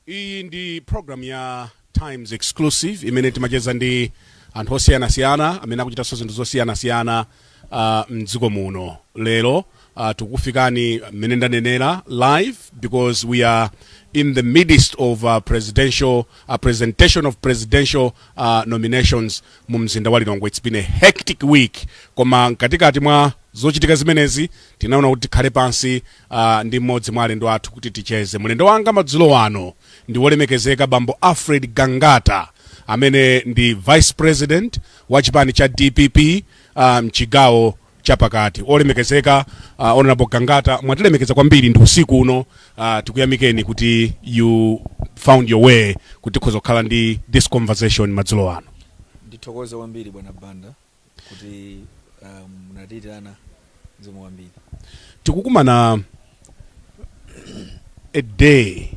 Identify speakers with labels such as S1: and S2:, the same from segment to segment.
S1: iyi ndi program ya times exclusive imene timacheza ndi anthu osiyanasiyana amene akuchitanso zinthu zosiyanasiyana uh, mdziko muno lero uh, tikukufikani mmene ndanenera live because we are in the midst of uh, presidential uh, presentation of presidential uh, nominations mu mzinda wa lilongwe it's been a hectic week koma mkatikati mwa zochitika zimenezi tinaona kuti tikhale pansi uh, ndi mmodzi mwa alendo athu kuti ticheze. Mlendo wanga madzulo ano ndi wolemekezeka bambo Alfred Gangata amene ndi vice president wa chipani cha DPP ah, mchigawo um, chapakati. Olemekezeka uh, honorable Gangata mwatilemekeza kwambiri usiku uno uh, tikuyamikeni kuti you found your way kuti tikhoza kukhala ndi this conversation madzulo ano. Ndithokoze
S2: kwambiri bwana Banda. kuti uh, munatiitana. Zikomo kwambiri
S1: tikukumana a day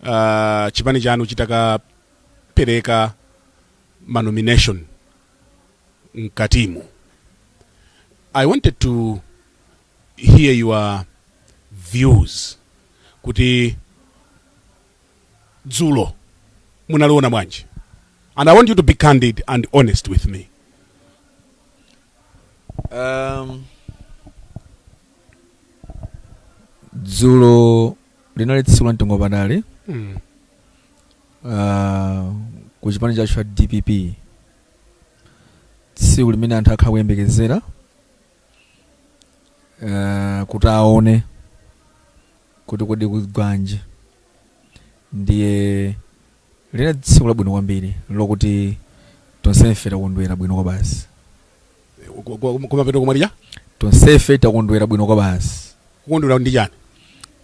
S1: uh, chipani chanu chitakapereka manomination mkatimu i wanted to hear your views kuti dzulo munaliona bwanji and i want you to be candid and honest with me
S2: Um, dzulo linali tsiku la mtengo wapatali mm. uh, ku chipani chathu cha dpp tsiku limene anthu akhala kuyembekezera uh, kuti aone kuti kodi kugwanji. Ndiye linali tsiku labwino kwambiri lokuti tonsefe takondwera bwino kwabasi, Ku- ku-
S1: kumapeto komaliza
S2: tonsefe takondwera bwino kwabasi, kukondwera ndi
S1: chani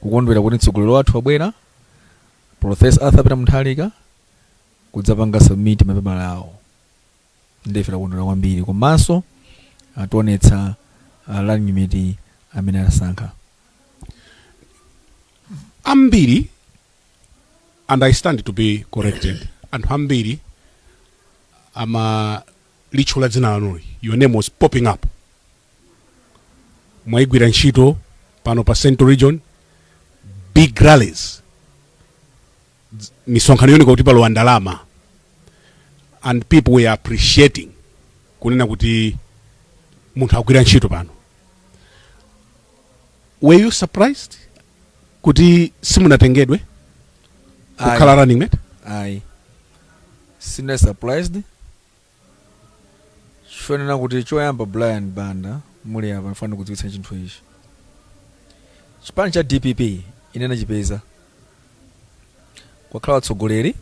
S1: kukondwera
S2: kuti mtsogoleri wathu wabwera Professor Arthur Peter Mutharika kudzapanga submit mapepala awo. nde ife takondwera kwambiri komanso ationetsa ah, running mate amene anasankha
S1: ambiri and i stand to be corrected anthu ambiri amalitchula dzina lanuli your name was popping up mwayigwira ntchito pano pa central region big rallies dz- misonkhano yooneka kuti palowa ndalama and people were appreciating kunena kuti munthuyu wagwira ntchito pano were you surprised kuti simunatengedwe kukhala running mate ayi
S2: sine surprised chonena kuti choyamba Brian Banda muli apa ndifuna ndikudziwitsa chinthu ichi chipani cha dpp ine nachipeza kwakhala atsogoleri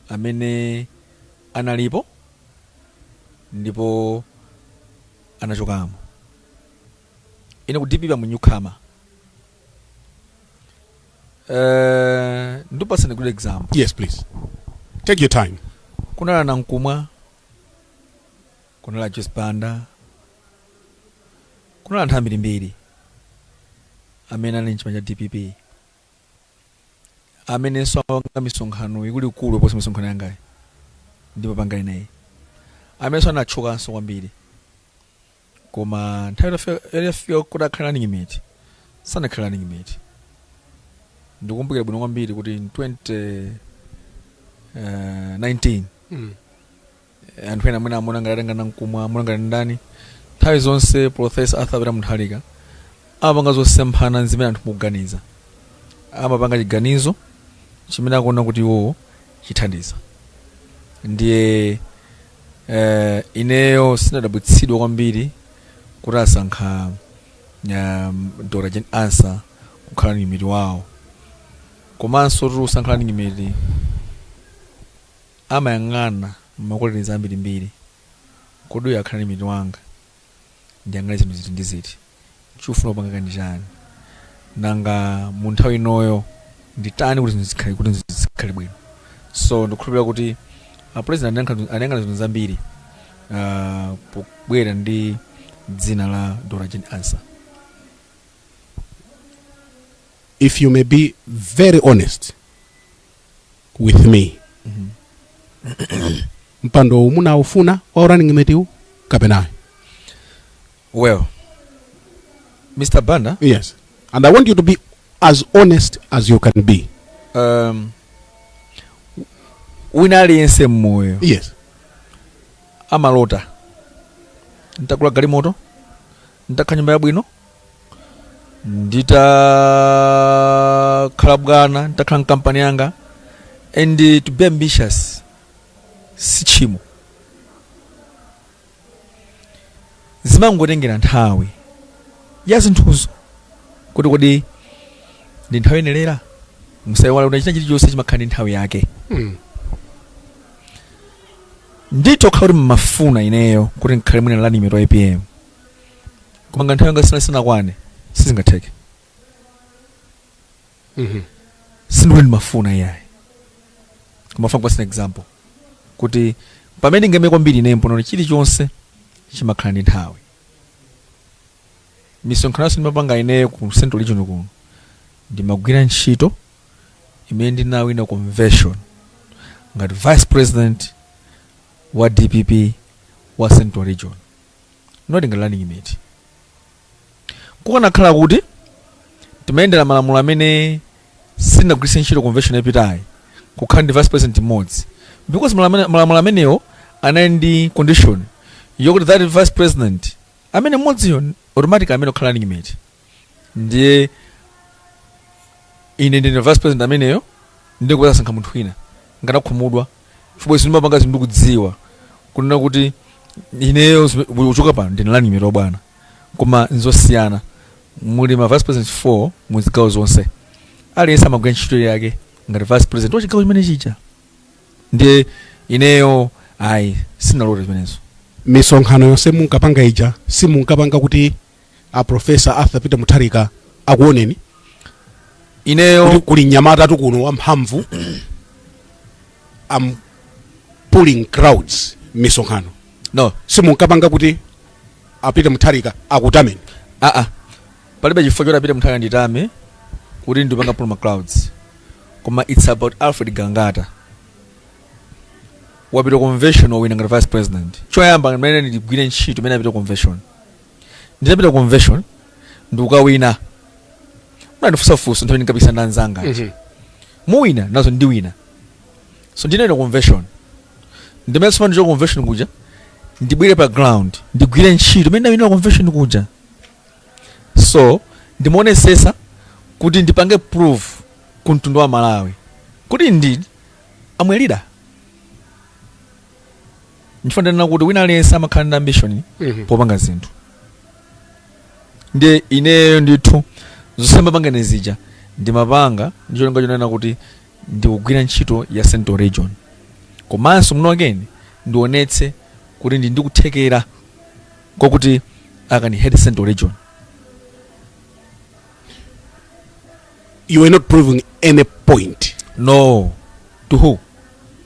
S2: amene analipo ndipo anachokamo ine ku dpp am a newcomer Eh, ndipasani good example yes
S1: please take your time kunali a Nankhumwa
S2: kunali a Joyce Banda kunali anthu ambirimbiri amene ali mchipani cha dpp amenenso amapanga misonkhano ikuluikulu kuposa misonkhano yangayi ndikupanga ineyi amenenso anatchukanso kwambiri koma nthawi itafika kuti akhale running mate sanakhale running mate ndikumbukira bwino kwambiri kuti in 20 eh, 19 Mm. eh, anthu ena amene amaona ngati atenga Nankhumwa amaona ngati ndani nthawi zonse professor arthur peter mutharika amapanga zosemphana ndi zimene anthu mukuganiza amapanga chiganizo chimene akuona kuti iwowo chithandiza ndiye eh, ineyo sinadabwitsidwa kwambiri kuti asankha um, dr jane ansah kukhala running mate wawo komanso kuti usankhe running mate amayang'ana ma qualities ambirimbiri kodi uyu akhala running mate wanga ndiyang'ane zinthu ziti ndi ziti chikufuna kupanga ndi chani nanga mu nthawi inoyo nditani kuti zinthu kuti zikhale bwino so ndikukhulupirira kuti a president anayang'ana zinthu zambiri ah, pobwera ndi dzina la dr jane
S1: ansah if you may be very honest with me mpando uwu munawufuna wa running mate uwu kapena
S2: well
S1: mr banda yes and i want you to be as honest
S2: as
S1: you can be um,
S2: wina aliyense mmoyo yes amalota ntakula galimoto nditakhala nyumba yabwino nditakhala bwana nditakhala mkampani yanga and uh, to be ambitious si tchimo zimangotengera nthawi ya zinthuzo kuti kodi ndi nthawi yoyenelera musaiwala kuti china chilichonse chimakhala ndi nthawi yake Mm. nditha kukhala kuti mmafuna ineyo kuti ndikhale mwina running mate wa apm koma nga nthawi yanga sina sinakwane sizingatheke Mhm. sindikuti ndimafuna iyayi koma funa kupasa example kuti pamene ndingamire kwambiri ine mponena chilichonse chimakhala ndi nthawi misonkhano yonse ndimapanga ineyo ku central region kuno ndimagwira ntchito imene ndinawina convention ngati vice president wa dpp wa central region not ngati running mate kukanakhala kuti timayendera malamulo amene sinagwiritse ntchito convention yapitayi kukhala ndi vice president mmodzi because malamulo amenewo anali ndi condition yokuti that vice president amene mmodziyo automatic amene okhala running mate ndiye ine ndine vice president ameneyo ndikupeza asankha munthu wina nkanakhumudwa chifukwa izi ndimapanga zinthu ndikudziwa kunena kuti ineyo zime- uchoka pano ndine running mate bwana koma nzosiyana muli ma vice president 4 mu zigawo zonse aliyense amagwira ntchito yake ngati vice president wa chigawo chimene chija ndiye ineyo ayi sinalote zimenezo misonkhano
S1: yonse munkapanga ija simunkapanga kuti a professor arthur peter mutharika akuoneni
S2: kuti ineyo kuli
S1: mnyamatatu kuno wamphamvu am pulling crowds misonkhano no
S2: simunkapanga kuti
S1: a peter mutharika akutameni
S2: aa palibe chifukwa choti a peter mutharika anditame kuti ndipanga pull ma crowds koma its about alfred gangata wapita convention wawina ngati vice president choyamba mene ndigwire ntchito imene apita convention ndinapita ku convention ndikukawina munandifunsa funso nthawi ndinkapikisana ndi anzanga aja. muwina nazo ndiwina so ndinawina convention ndimene soma ndichoke convention kuja ndibwere pa ground ndigwire ntchito imene ndawinira convention kuja so ndimaonetsetsa kuti ndipange prove ku mtundu wa malawi kuti indeed am a leader nchifukwa ndanena kuti wina aliyense amakhala ndi ambition Mhm. popanga zinthu ndiye ineyo ndithu zonse mmapanga ine zija ndimapanga ndi cholinga chonena kuti ndikugwira ntchito ya central region komanso muno again ndionetse kuti ndi ndi kuthekera kwakuti i can head central region
S1: you were not proving any point
S2: no to who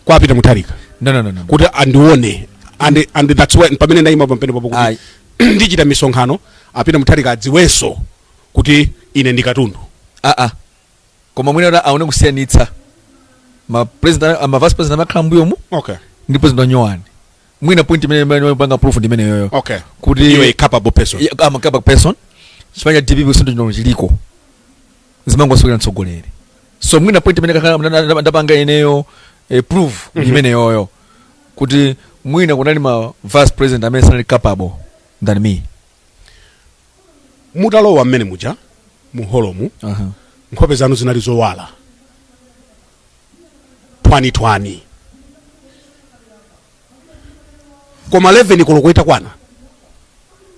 S2: kwa
S1: peter mutharika no no no no kuti
S2: andione
S1: and and that's why pamene ndayima pamenepapo kuti Ayi. ndichita misonkhano a peter mutharika adziwenso kuti ine ndi katundu ah
S2: ah koma mwina kuti aone kusiyanitsa ma president a- ma vice president amakhala mbuyomu okay ndi
S1: president nyowani
S2: mwina point imene imene imapanga proof ndi imene yoyo okay kuti iwe
S1: a
S2: capable
S1: person Yeah, I'm a capable
S2: person chifukwa DPP kusintha chino chiliko zimangosokera mtsogoleri so mwina point imene kakhala mna- nda- ndapanga ineyo eh, proof mm imene yoyo kuti mwina kunali ma vice president amene sanali capable than
S1: me mutalowa mmene muja mu holomo uh-huh. nkhope zanu zinali zowala ngwaningwani koma 11 koloko itakwana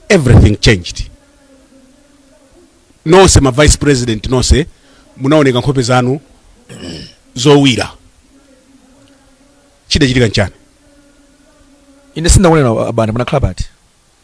S1: everything changed nonse ma vice president nonse munaoneka nkhope zanu zowira chidachitika nchani
S2: ine sindinaone a Brian munakhala pati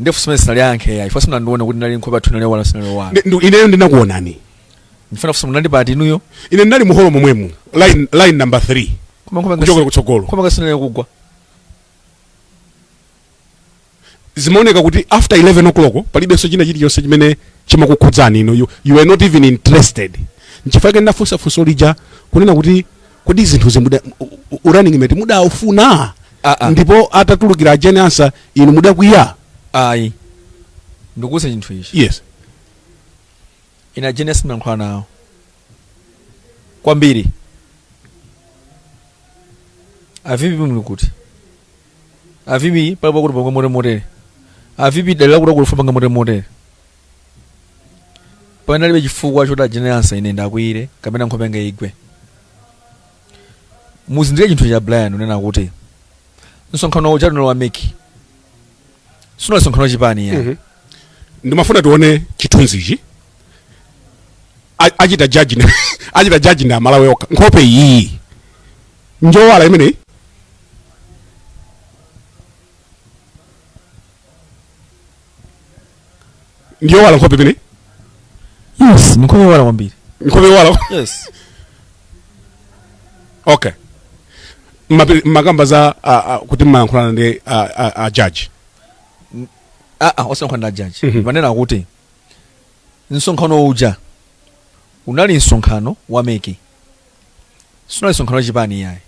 S2: nde funso limene sindingayankhe yayi first munandiona kuti inali nkhope yathu inali yowala sinali yowala Ndi- ndi- ineyo ndinakuonani ndifuna kufunsa munali pati inuyo ine ndinali muholo
S1: momwemu line, line number 3 koma nkhope kuchokera kutsogolo koma kaya sinali kugwa zimaoneka kuti after 11 o'clock palibenso china chilichonse chimene chimakukhudzani inu you, you were not even interested nchifukwa chake ndinafunsa funso lija kunena kuti kodi zinthuzi muda u- u- running mate mudaufuna Ah, ah. ndipo atatulukira a Jane Ansah inu mudakwiya ayi
S2: ndikuuzeni chinthu ichi yes ine a Jane Ansah ndimalankhula nawo kwambiri a VP muli kuti a VP palipo kuti tipange motere motere a VP dalila kuti akufuna tipange motere motere panalibe chifukwa choti a Jane Ansah ine ndiwakwiyire kapena nkhope yanga igwe muzindikire chinthu ichi a Brian kunena kuti msonkhano uja unali wa MEC sunali msonkhano wachipani yayi Mhm.
S1: ndimafuna tione chithunzichi A- achita judge ndi a- achita judge ndi Amalawi okha nkhope iyi njowala imeneyi ndiyowala nkhope imeneyi
S2: yes nkhope yowala kwambiri nkhope yowala
S1: yes okay Mmape- mmakamba za ah, ah, kuti mmayankhulana ndi ah, ah, ah, jaji ah
S2: ah osankhana na jaji Mhm. mmanena kuti msonkhano uja unali msonkhano wa MEC sunali msonkhano wa chipani yayi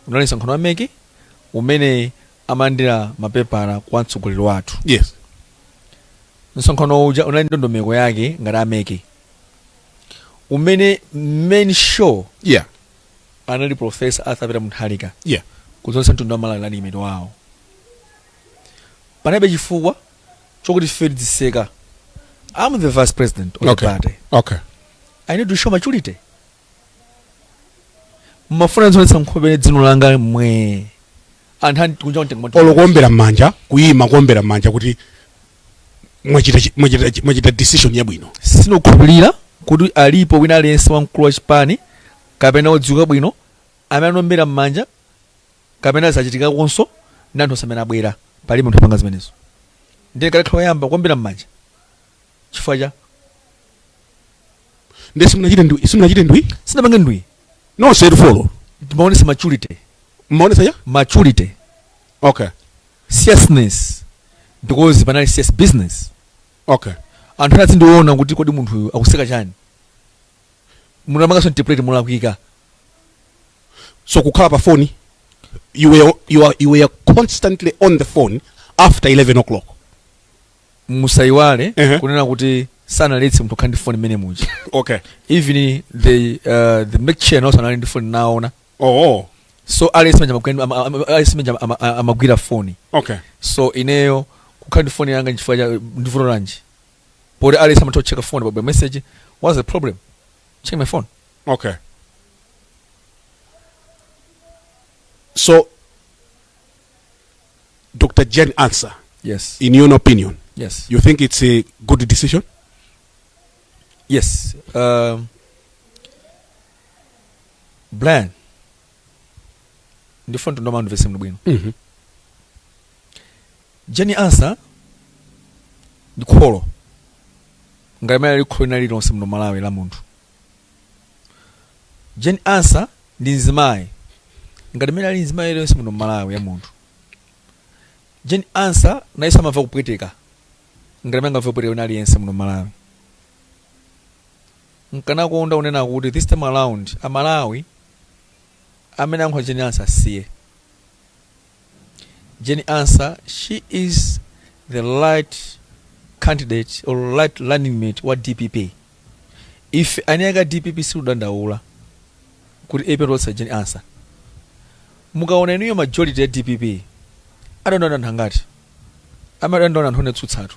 S2: unali msonkhano wa MEC umene amalandira mapepala kwa mtsogoleri wathu yes msonkhano uja unali ndondomeko yake ngati a MEC umene main show yeah anali profesa Arthur Peter Mutharika yeah
S1: kudzaonetsa mtundu wa
S2: Malawi running mate wawo panalibe chifukwa chokuti ife tiziseka i'm the vice president of the okay party okay
S1: i need to show
S2: maturity mumafuna ndizionetsa nkhope ndi dzino langa pomwe anthu andikunja kuntenga moto olo kuombera m'manja
S1: kuyima kuombera m'manja kuti mwachita chi- mwachita chi- mwachita decision yabwino sindikukhulupirira
S2: kuti alipo wina aliyense wamkulu wa chipani kapena odziwika bwino amene anaombera m'manja kapena zachitikakonso ndi anthu onse amene abwera palibe munthu apanga zimenezo ndiye kalekhala oyamba kuombera m'manja chifukwa
S1: chani nde simunachite ndwi simunachite ndwi sinapange
S2: ndwi nonse
S1: lufolo timaonesa
S2: maturity mmaonesa
S1: maturity
S2: okay
S1: seriousness
S2: because panali serious business
S1: okay anthu ena
S2: azindiona kuti kodi munthu uyu akuseka chani munthu amapangaso interpret
S1: mulakwika so kukhala pa phone you were, you, are, you were constantly on the phone after 11 o'clock
S2: musaiwale Ehe. kunena kuti sanaletse munthu kukhala ndi foni mmene muja okay
S1: even
S2: the uh, the MEC chair nawonso anali ndi foni naona oh so aliyense manja amagwira- ama- ama- aliyense manja ama- ama- amagwira foni okay so ineyo kukhala ndi foni yanga nchifukwa chani ndivuto lanji poti aliyense amatha kucheka foni pabwera message what's the problem check my phone
S1: okay so Dr. Jane Ansah, yes. in
S2: your
S1: opinion, yes. you think it's a good decision? Yes.
S2: Um, Brian, ndifuna kuti anthu amvetse bwinobwino Mhm. Jane Ansah ndi kholo ngati mmene lili kholo lina lililonse muno m'Malawi la munthu Jane Ansah ndi mzimayi ngati mmene ali mzimayi aliyense muno m'Malawi wa munthu. Jane Ansah nayenso amamva kupweteka ngati mmene angamve kupweteka wina aliyense muno m'Malawi. Nkanakonda kunena kuti this time around aMalawi amene akunyoza Jane Ansah asiye. Jane Ansah, she is the right candidate or right running mate wa dpp ife eni ake a dpp sitikudandaula kuti atipatsa Jane Ansah mukaona inuyo majority ya dpp adandaula anthu angati amadandaula anthu
S1: otsutsatu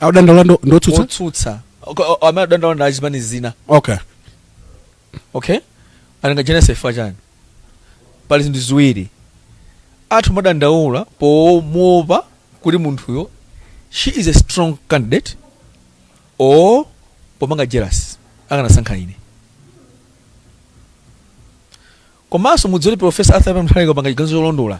S1: adandaula ndo- ndotsutsa otsutsa
S2: amadandaula ndi azipani zina okay
S1: okay nanga Jane Ansah chifukwa
S2: chani pali zinthu ziwiri anthu amadandaula pomuopa kuti munthuyo she is a strong candidate or popanga jealous akanasankha ine komanso mudziwe kuti profesa Arthur Peter Mutharika wapanga chiganizo cholondola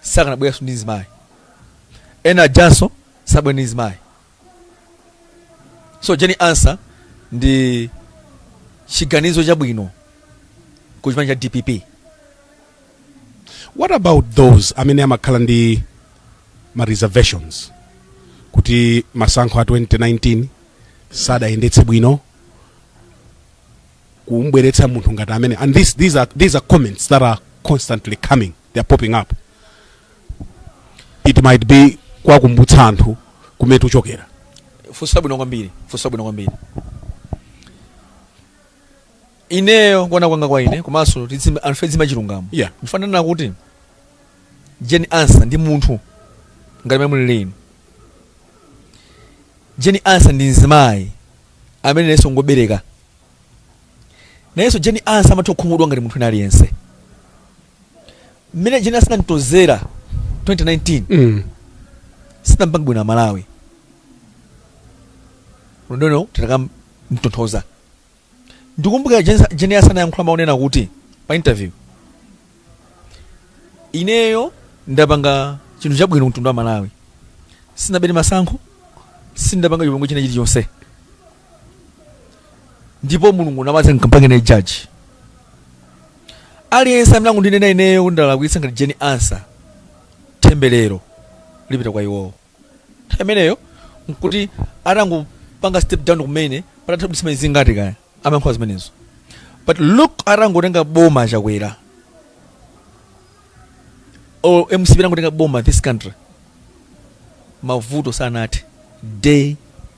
S2: sakanabweranso ndi mzimayi ena ajanso sabwera ndi mzimayi so Jane Ansah ndi chiganizo chabwino ku chipani cha dpp
S1: what about those amene amakhala ndi ma reservations kuti masankho a 2019 sadayendetse bwino kumbweretsa munthu ngati amene and this, these, are, these are comments that are constantly coming they are popping up it might be kwakumbutsa anthu kumene tuchokera funso labwino
S2: kwambiri funso labwino kwambiri ineyo kuona kwanga kwa ine komanso tizine- anthu tizinena chilungamo Yeah. ndifuna ndinene kuti Jane Ansah ndi munthu ngati mene mulili inu Jane Ansah ndi mzimayi amene nayenso ngobereka nayenso Jane Ansah amatha kukhumudwa ngati munthu wina aliyense mmene Jane Ansah tinamtonzera 2019 Mm. sitinampange bwino amalawi ndiye titakamtonthoza ndikumbukira Jane- Jane Ansah anayankhula mawu onena kuti pa interview ineyo ndapanga chinthu chabwino ku mtundu wa malawi sinabere masankho sindapanga chipongwe china chilichonse ndipo mulungu namathe mkampange naye jaji aliyense amene akundinena ineyo kuti ndalakwitsa ngati Jane Ansah temberero lipita kwa iwowo nthawi imeneyo nkuti atangopanga step down kumene patatha kaya ndi masiku angati kaya amayankhula zimenezo but look atangotenga boma chakwera or mcp atangotenga boma this country mavuto sanathe day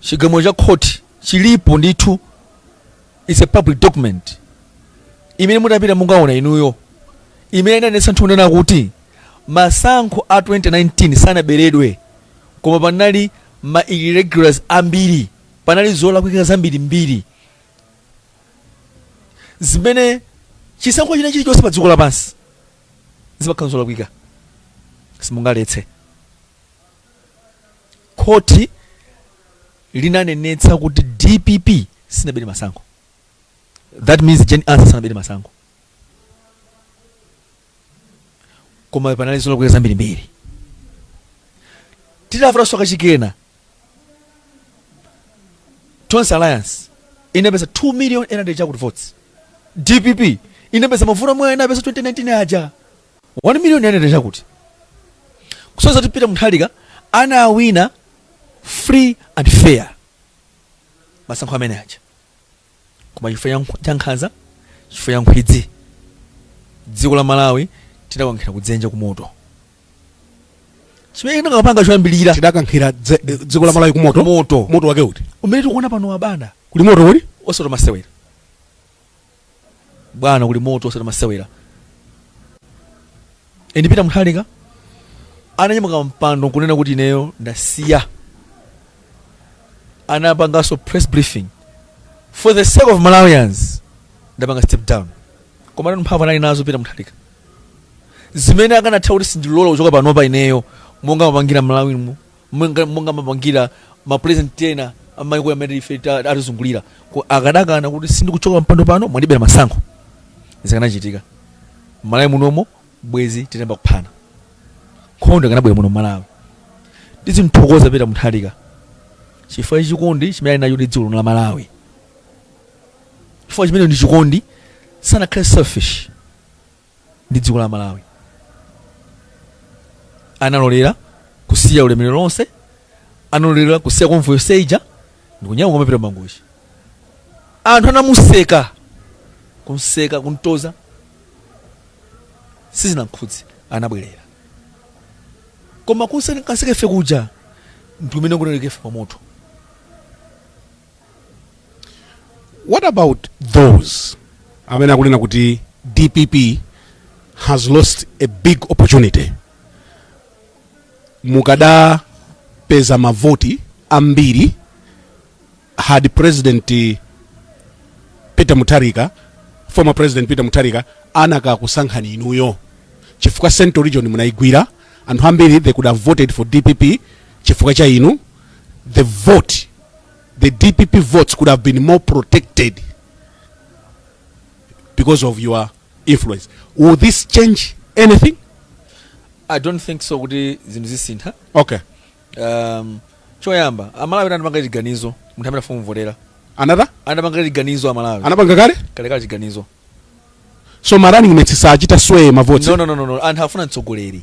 S2: chigamulo cha khoti chilipo ndithu it's a public document imene mutapita mungaona inuyo imene inanenetsa ndithu kunena kuti masankho a 2019 sanaberedwe koma panali ma irregularities ambiri panali zolakwika zambirimbiri zimene chisankho china chilichonse pa dziko lapansi zimakhala zolakwika simungaletse Khoti linanenetsa kuti dpp sinabere masankho that means Jane Ansah sanabere masankho koma panali zolakwika zambirimbiri titavotanso kachikena Tonse Alliance inapeza 2 million 800 chakuti votes dpp inapeza mavoti omwe inapeza 2019 aja 1 million yanena chakuti kusonyeza kuti peter mutharika anawina free and fair masankho amene aja koma chifukwa cha nkh- cha nkhanza chifukwa cha nkhwidzi dziko la malawi tidakankhira kudzenje kumoto chimene tinakapanga choyambirira tidakankhira dze-
S1: eh, dziko la malawi kumoto moto moto wake uti umene tikuwuona pano wabanda
S2: kuli moto kuli
S1: osati masewera
S2: bwana kuli moto osati masewera and peter mutharika ananyamuka mpando nkunena kuti ineyo ndasiya anapanganso press briefing for the sake of malawians ndapanga step down koma tu mphamvu anali nazo peter mutharika zimene akanatha kuti sindilola kuchoka panopa ineyo monga amapangira malawi mu Mwenga- monga amapangira mapulezidenti ena amaiko amene ife ta- atizungulira Ku- akadakana kuti sindikuchoka pampando pano mwandibera masankho zikanachitika malawi munomo bwezi tinayamba kuphana nkhondo ikanabwera muno malawi tizimthokoza peter mutharika chifukwa cha chikondi chimene ali nacho ndi dziko lino la malawi chifukwa chimene ndi chikondi sanakhale selfish ndi dziko la malawi analolera kusiya ulemerero lonse analolera kusiya convoy yonse ija ndikunyamuka kumapita mangochi anthu anamuseka kumseka kumtoza sizinamkhudze anabwerera koma kuseka kaseka ife kuja ndikumene kwatiika ife pamoto
S1: What about those amene akunena kuti dpp has lost a big opportunity mukadapeza mavoti ambiri had president peter mutharika former president peter mutharika anakakusankhani inuyo chifukwa central region munayigwira anthu ambiri they could have voted for dpp chifukwa cha inu the vote the dpp votes could have been more protected because of your influence will this change anything
S2: i don't think so kuti zinthu zisinthe okay um, choyamba amalawi anapanga chiganizo munthu amene afuna kumvotera another anapanga chiganizo amalawi anapanga kale kalekale
S1: chiganizo so ma running mates saachita sway mavoti no, no, no, no, no. anthu afuna
S2: mtsogoleri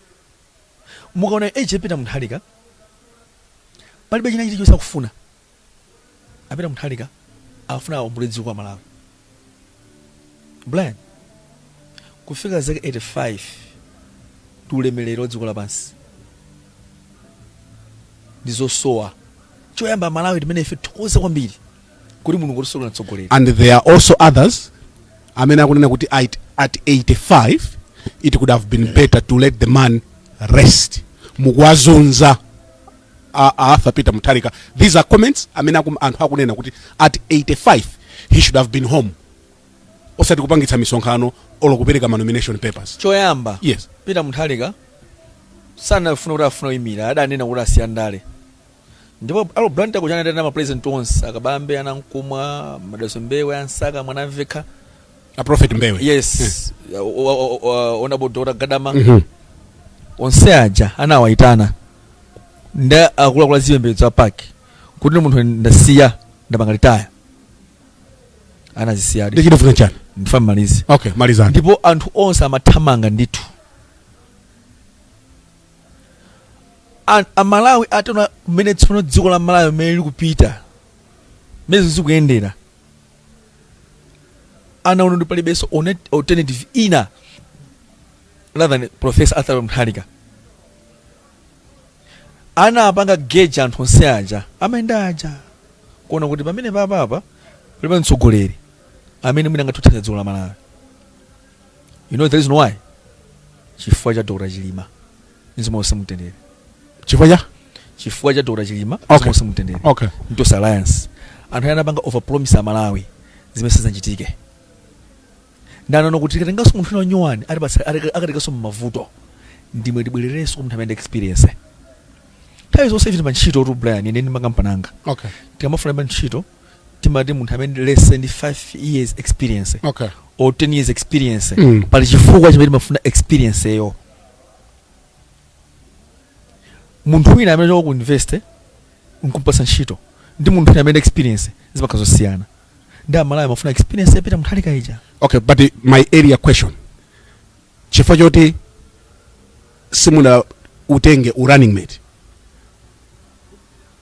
S2: mukaona age ya peter mutharika palibe china chilichonse akufuna a peter mutharika afuna aombole dziko la malawi brian kufika zaka 85 ndi ulemerero wa dziko lapansi ndizosowa choyamba malawi timene ife tikhoza kwambiri kuti mulungu watisolera mtsogoleri and there are
S1: also others amene akunena kuti at, at 85 it could have been better to let the man rest mukuwazunza a, a arthur peter mutharika these are comments amene akum, anthu akunena kuti at 85 he should have been home osati kupangitsa misonkhano olo kupereka ma nomination papers choyamba yes
S2: peter mutharika sanafuna kuti afuna kuyimira adanena kuti asiya ndale ndipo a Lilongwe Blantyre kuja anaitana ma president onse a Kabambe a Nankhumwa Madalitso mbewe a Msaka a Mwanamvekha a
S1: prophet mbewe yes O- o- o-
S2: o- honorable dr gadama Mhm. onse aja anawaitana ndi akuluakulu a zipembedzo a PAC kuti ine munthu ndasiya ndapanga retire ndi anazisiyadi chimene ndikufuna chani ndifuna
S1: ndimalize okay
S2: malizani ndipo
S1: anthu onse
S2: amathamanga ndithu An- amalawi ataona mmene tsono dziko la malawi mmene likupitira mmene zikuyendera anaona kuti palibenso one- alternative ina rather than professor arthur mutharika anapanga gauge anthu onse aja amayenda aja kuona kuti pamene papapa palibe mtsogoleri amene mwina angathe kuthandiza dziko la malawi You know the reason why? Chifukwa cha Dr. Chilima. Mzimu wawo uuse mumtendere. Chifukwa cha? Chifukwa cha Dr. Chilima. Okay. Mzimu wawo uuse mumtendere. Okay. Ndi Tonse Alliance. Anthu anapanga overpromise a Malawi. Zimene sizinachitike. Nde anaona kuti akatengaso munthu wina nyuwani. Alibwasa akatengaso mmavuto. Nde mwina tibwelereso kwa munthu amene ali ndi experience. Nthawi zonse ife ndi antchitotu Brian ine ndi makampani anga. Okay. Tikamafuna
S1: antchito
S2: timati munthu amene ali let's say ndi 5 years experience okay or
S1: 10
S2: years experience Mm. pali chifukwa chimene timafuna experience yo munthu wina amene wachoka ku university nkumpasa ntchito ndi munthu wina amene ali ndi experience zimakhala zosiyana ndi amalawi amafuna experience ya peter mutharika ija okay but uh,
S1: my earlier question chifukwa choti simunautenge u running mate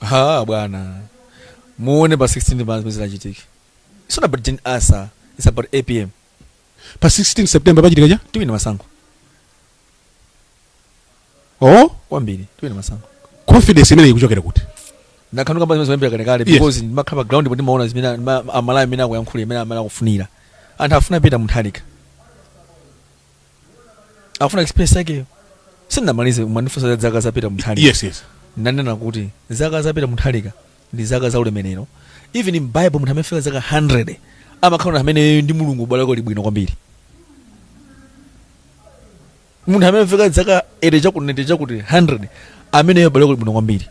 S1: ha
S2: bwana muone pa 16 pa zimene zidzachitike it's not about Jane Ansah it's about apm pa
S1: 16 september pachitika chani tiwina masankho oh kwambiri
S2: tiwina masankho confidence
S1: imeneyi ikuchokera kuti ndakhala ndikukamba
S2: zimenezo kuyambira kalekale Yes. because ndimakhala pa ground ndipo ndimaona zimene ma- amalawi amene akuyankhula imene amene akufunira anthu afuna peter mutharika akufuna experience yakeyo sindinamalize mwandifunsa za zaka zapita muthalika yes
S1: ndanena
S2: kuti zaka zapita muthalika ndi zaka za ulemerero even in bible munthu amene fika zaka 100 amakhala munthu amene ndi Mulungu ubale wake uli bwino kwambiri munthu amene fika zaka 80 chakuti 90 chakuti 100 ameneyo ubale wake uli bwino kwambiri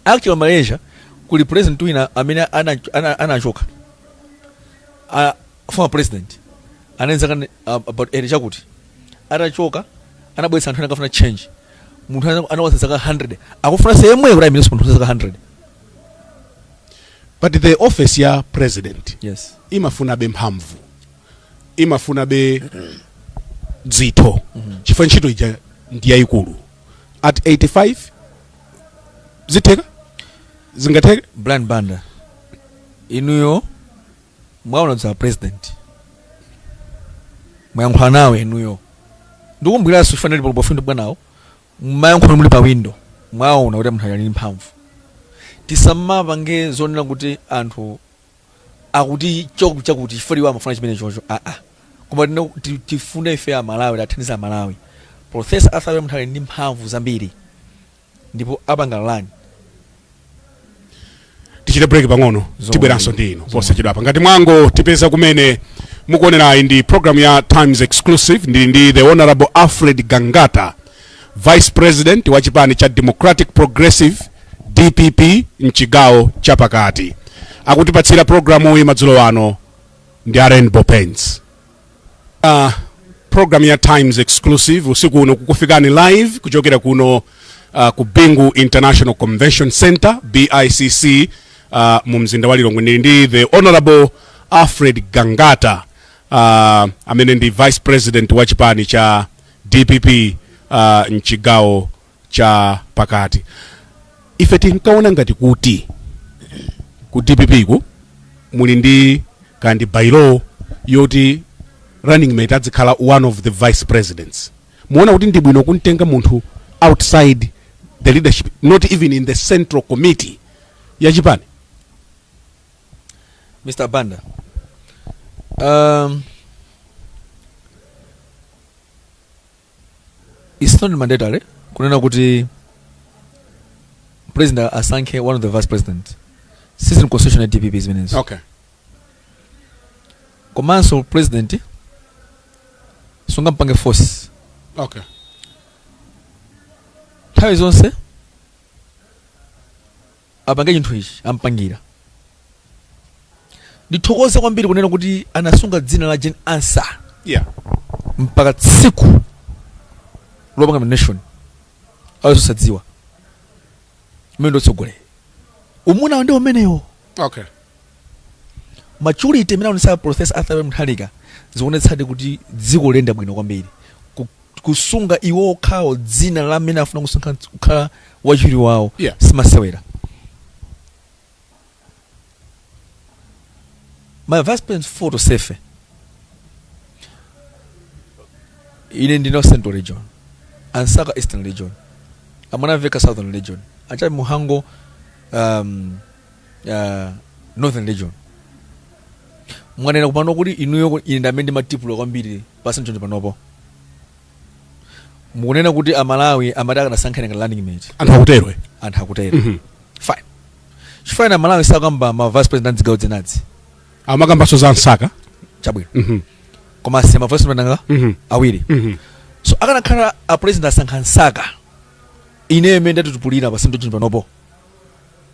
S2: actually malaysia kuli president wina amene ana- ana- anachoka A- former president anali ndi zaka uh, about 80 chakuti atachoka anabweretsa anthu anakafuna change munthu ana- anakwanitsa zaka 100 akufuna yemwe prime minister munthu zaka 100
S1: but the office ya president yes
S2: imafunabe
S1: mphamvu imafunabe dzitho chifukwa ntchito ija ndi yayikulu at 85 zitheka zingatheka brian banda
S2: inuyo Mwaona dzana president mwayankhula nawo inuyo ndikumbukiraso chifukwa ndili palipo pompo bwanawo mumayankhula muli pa window mwaona kuti munthu ali mphamvu tisamapanga zonena kuti anthu akuti chakuti chakuti chifukwa iwo amafuna chimene chocho aa ah, ah. koma tina- ti- tifune ife amalawi tithandiza amalawi profesa arthur munthu ali ndi mphamvu zambiri ndipo apanga
S1: run tichite break pang'ono tibweranso ndi inu posachedwapa ngati mwangotipeza kumene mukuonerayi ndi program ya times exclusive ndili ndi the honorable alfred gangata vice president wa chipani cha democratic progressive dpp mchigawo chapakati akutipatsira programu iyi madzulo ano ndi a rainbow paints Uh, program ya Times Exclusive usiku uno kukufikani live kuchokera kuno uh, ku Bingu International Convention Center BICC uh, mu mzinda wa Lilongwe ndili ndi the honorable Alfred Gangata uh, amene ndi vice president wa chipani cha DPP uh, mchigawo cha pakati ife tinkaona ngati kuti ku dpp-ku muli ndi ka bylaw yoti running mate adzikhala one of the vice presidents muona kuti ndi bwino kumtenga munthu outside the leadership not even in the central committee ya
S2: chipani mr banda um, It's not mandatory kunena kuti president asankhe one of the vice president sizili mu constitution ya dpp zimenezo okay komanso president sungampange
S1: force
S2: okay nthawi zonse apange chinthu ichi ampangira ndithokoze kwambiri kunena kuti anasunga dzina la Jane Ansah yeah
S1: mpaka
S2: tsiku lopanga nomination azosadziwa umene ndi utsogoleri umuna ndi umenewo okay maturity imene aonetsa professor Arthur Peter Mutharika zionetsadi kuti dziko liyenda bwino kwambiri Ku- kusunga iwo okhawo dzina la amene afuna kusankha kukhala wachiwiri wawo Yeah. simasewera ma vice president four tonsefe ine ndine wa central region a Msaka eastern region a Mwanamvekha southern region a Jappie Mhango um, uh, northern region mwanena kupano kuti inuyo ku- ine ndamene ndimatipula kwambiri pa central region panopo mukunena kuti amalawi amati akadasankhana ngati running mate anthu akutero eh? anthu akutero Mhm. fine chifukwa chani amalawi sakamba ma vice president a zigawo zinazi
S1: amakambanso za Msaka chabwino
S2: Mhm. koma asiya ma vice president anga Mhm. awiri Mhm. so akanakhala a president asankha Msaka ineyo amene ndatitipulira pa central region panopo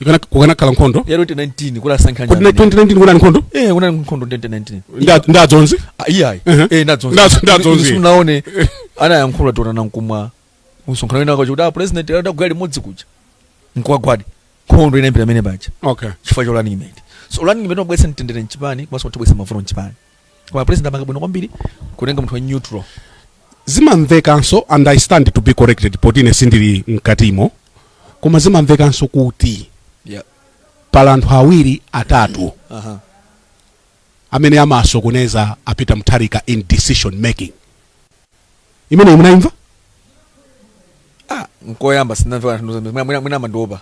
S2: ikana kukana kala
S1: nkondo ya 2019 kula
S2: sankanya kodi 2019 kuna nkondo
S1: eh kuna nkondo 2019 nda
S2: nda zonzi ah,
S1: iya eh
S2: nda zonzi nda zonzi sunaone ana yankhula tona na nkumwa musonkhano wina kwa chuda ah, president ada gwali modzi kuja nkwa gwadi nkondo ina mpira mene bacha okay chifukwa cha running
S1: mate
S2: so running mate obwesa ntendere nchipani kwa sababu tobwesa mavuno nchipani koma president apanga bwino kwambiri kutenga munthu wa neutral
S1: zimamvekanso and i stand to be corrected poti ine sindili mkatimo koma zimamvekanso kuti yeah. pali anthu awiri atatu uh -huh. amene amasokoneza a Peter Mutharika in decision making imeneyi munaimva ah,
S2: nkoyamba sindinamve anthu mwina amandiopa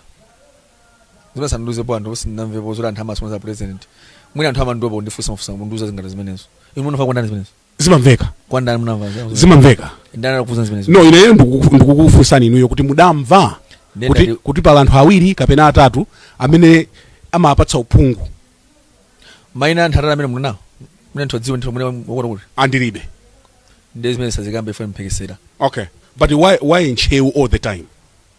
S2: zimene sanandiuzepo anthu sindinamvepo zoti anthu amasokoneza president mwina anthu amandiwopa kundifunsa mafunsa kundiuza zinthu ngati zimenezo inu munamva kwandani zimenezo zimamveka kwandani
S1: munamva zimenezo?
S2: zimamveka ndani
S1: anakufunsa zimenezo
S2: no ineyo ndikuku-
S1: ndikukufunsani inuyo kuti mudamva Ndiye kuti, ndati- kuti pali anthu awiri kapena atatu amene amapatsa
S2: uphungu maina a anthu atatu amene munamvawo mwina anthu adziwe ndithu mwina wakuti wakuti aa
S1: ndilibe ndiye
S2: zimene sazikambe ife mphekesera okay but
S1: why, why ntcheu all the time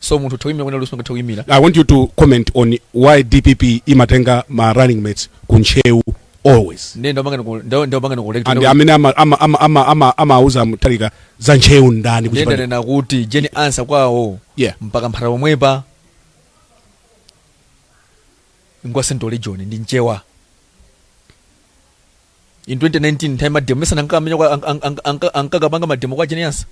S2: so munthu atha kuyimira wina aliyense angathe kuyimira I want you to
S1: comment on why DPP imatenga ma running mates ku Ntcheu always. ndiye ndapanga ndiku- nda-
S2: ndapanga And ndikulekta amene ama ama
S1: ama ama ama amauza Mutharika za Ntcheu ndani ndiye kuchipani. ndanena kuti
S2: Jane Ansah kwawo Yeah. n'pa Kamphata pomwepa ngwa central region ndi mchewa in 2019 nthawi mademo mesana ankamenya ankakapanga mademo kwa Jane Ansah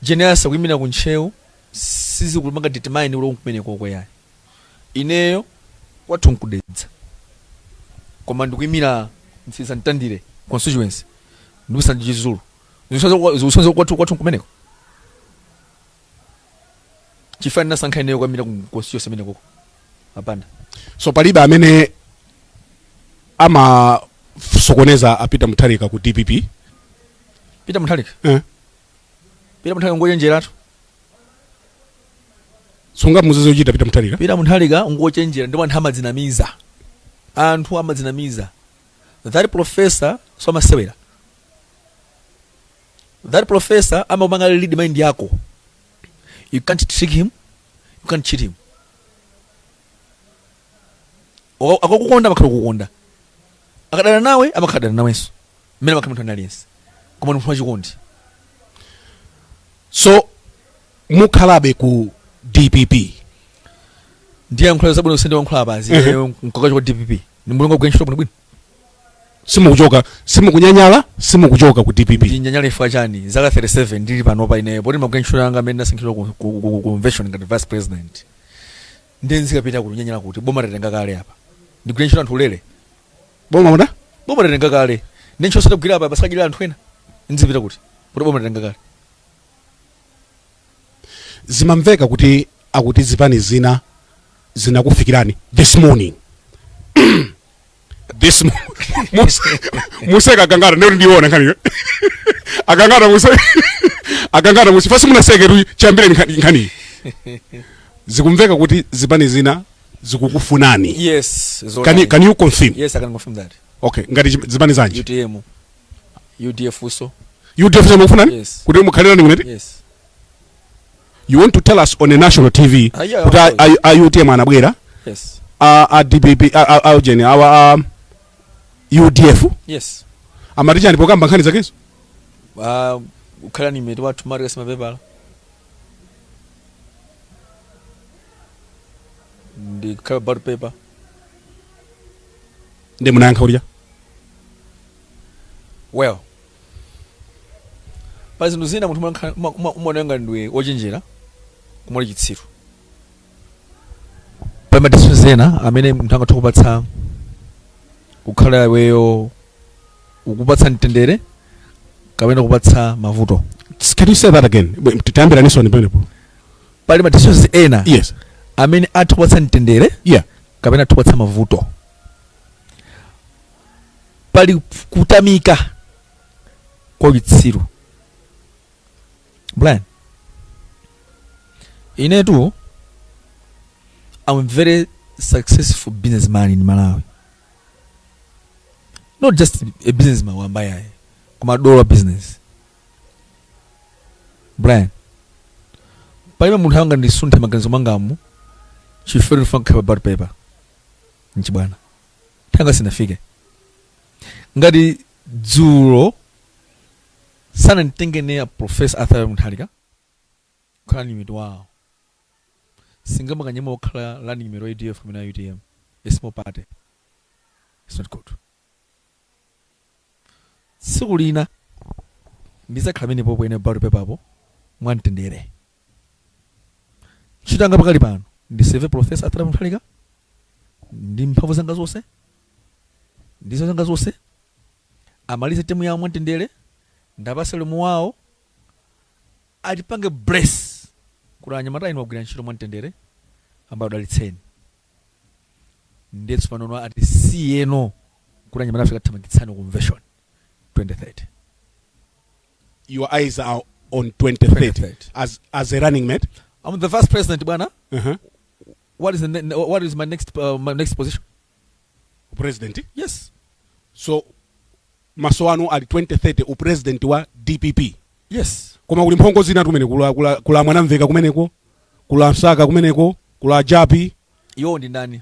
S2: Jane Ansah akuyimira ku Ntcheu sizikupanga determine kuti nkumenekoko yayi. Ineyo kwathu nku Dedza koma ndikuyimira Mtsiriza Mtandire constituency ndipo sanje Chizulu zikusonyeza kuti kwathu nkumeneko? Chifukwa ndinasankha ineyo kukayimira ku constituency imenekoko? Hapana. So palibe amene
S1: amasokoneza a Peter Mutharika ku dpp?
S2: peter mutharika Eh. peter mutharika
S1: ngochenjeratu sungamuuze zochita peter mutharika peter mutharika ngochenjera
S2: ndipo anthu amadzinamiza anthu amadzinamiza that professor so amasewera that professor amapanga read mind yako you can't trick him you can't cheat him Waka- akakukonda amakhala kukonda akadana nawe amakhala dana nawenso mmene amakhala munthu wina aliyense koma ndi munthu
S1: wachikondi so mukhalabe ku dpp
S2: ndiyankhula zabwino kusende wankhula apazi Mhm. mkakacho kwa dpp ni mulungu agwira ntchito bwinobwino simukuchoka simukunyanyala simukuchoka ku dpp ndinyanyala chifukwa chani zaka 37 ndili panopa ineyo poti ndimagwira ntchito yanga imene ndasankhidwa ku- ku ku- ku convention ngati vice president ndiye nzikapita kuti nyanyala poti boma tatenga kale apa ndigwirire ntchito anthu ulere boma
S1: muda boma tatenga kale
S2: ndiye ntchito yonse ndagwira apa basi akadyerere anthu ena nzipita kuti poti boma tatenga
S1: kale zimamveka kuti akuti zipani zina zinakufikirani this morning this mo- muse mukuseka a Gangata ndiye kuti ndiyoona nkhaniyo a Gangata muse a Gangata muse fasi munaseke tu chambire nkhani- nkhaniyi zikumveka kuti zipani zina zikukufunani yes can
S2: you, zoonadi. can you
S1: confirm yes i can confirm
S2: that okay ngati chi-
S1: zipani zanji
S2: utm udf uso udf mukufunani
S1: Yes. kuti mukhale
S2: running mate yes
S1: you want to tell us on a national tv Ah, yeah, kuti of a-
S2: course. a- a utm
S1: anabwera yes
S2: a a
S1: dpp a- a- a ujeni awa a udf yes
S2: amati chani pokamba
S1: nkhani zakezo Ah,
S2: ukhala running mate wathu mari kasima pepala ndikhala pa ballot paper
S1: ndiye munayankha kuti cha
S2: well pa zinthu zina munthu umakhala- uma- uma- umaoneka ngati ndiwe wochenjera koma uli chitsiru pali ma deals ena amene munthu angathe kupatsa kukhala iweyo ukupatsa mtendere kapena kupatsa mavuto can you say
S1: that again Bwe- tayambiraninso pamenepo pali ma
S2: deals ena yes amene
S1: atha kupatsa
S2: mtendere yeah kapena atha
S1: kupatsa
S2: mavuto pali kutamika kwa uchitsiru brian inetu am a very successful businessman in malawi not just a businessman wamba ayi koma dollar business brian palibe munthu angandisunthe maganizo mwangamu chifere ndifuna kukhala pa ballot paper nchibwana nthawi sinafike ngati dzulo sananditenge ine profesa arthur mutharika kukhala running mate wawo sindingamakanyeme okhala running mate wa udf kumene a utm a small party it's not good Tsiku lina ndidzakhala menepopo ine ballot paper-po mwamtendere. Ntchito yanga pakali pano ndi serve Professor Arthur Mutharika ndi mphamvu zanga zonse ndi nzeru zanga zonse amalize temu yawo mwamtendere ndiwapatse ulemu wawo atipange bless kuti anyamata inu mwagwira ntchito mwamtendere ambuye akudalitseni ndiyetu panono atisiyeno kuti anyamatafe tikathamangitsane ku convention
S1: 2030 your eyes are on 2030 as, as a running mate i'm the vice president
S2: bwana uh -huh. what is the ne- ne- what is my next uh, my next position
S1: president
S2: yes
S1: so maso anu ali 2030 upresident wa dpp yes
S2: koma kuli mphongo
S1: zinatu kumene kuli a, kuli a, kuli a mwanamvekha kumeneko kuli a msaka kumeneko kuli a jappie iwo ndi ndani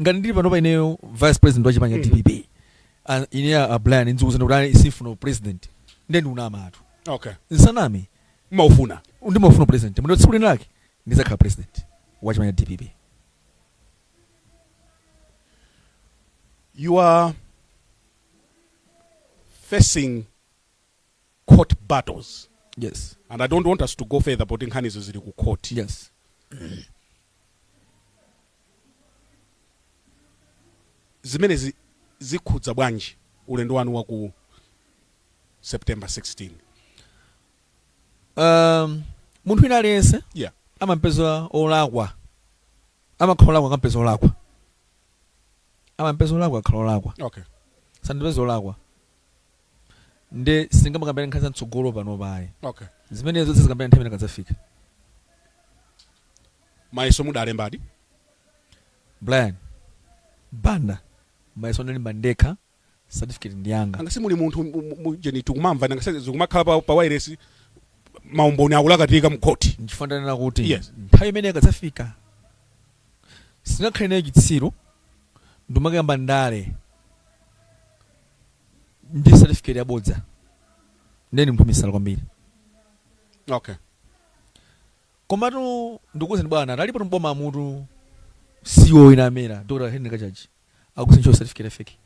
S2: ngati ndili panopa ineyo vice president wa chipani cha mm. dpp ah, ine a brian ndikuuzani kuti ayi sindifuna upresident ndiye ndikunamatu okay nsaname ndimaufuna
S1: ndimaufuna upresident
S2: ndipo tsiku lina lake ndizakhala president wa chipani cha
S1: dpp you are facing court battles yes and
S2: i don't want us
S1: to go further poti nkhanizo zili ku court yes zimene zi, zikhudza bwanji ulendo wanu wa ku september 16
S2: um, munthu wina aliyense yeah amampeza olakwa amakhala olakwa akampeza olakwa amampeza olakwa akhala olakwa okay
S1: sanandipeze olakwa
S2: nde sitingamakambirane nkhani za mtsogolo panopa ayi okay
S1: zimenezo tizikambirana
S2: nthawi imene
S1: akadzafika mayeso mudalembadi
S2: brian banda mayeso ndinalemba ndekha certificate ndi yanga nanga si muli munthu mu-
S1: mu- mu- jeni tikumamva nanga sasa zikumakhala pa, pa wireless maumboni akulakatika mukhoti nchifukwa ndanena kuti
S2: Yes. nthawi imene
S1: akadzafika
S2: sindingakhale ineyo chitsiru ndikumakayamba ndale ndi certificate yabodza ndiye ndi munthu misala kwambiri
S1: okay komatu
S2: ndikuwuzani bwana talipo tumboma amutu CEO ina amera Dr. Henry Kachaji akusincho certificate fake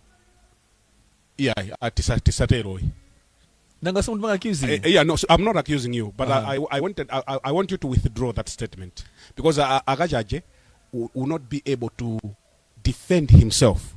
S1: iyayi atisa tisateroyi
S2: nanga somuntu manga accusing Eh, eh, yeah, no, so I'm not accusing
S1: you, but Uh-huh. I, I, I wanted, I, I- I want you to withdraw that statement because uh, Akajaje will, will not be able to defend himself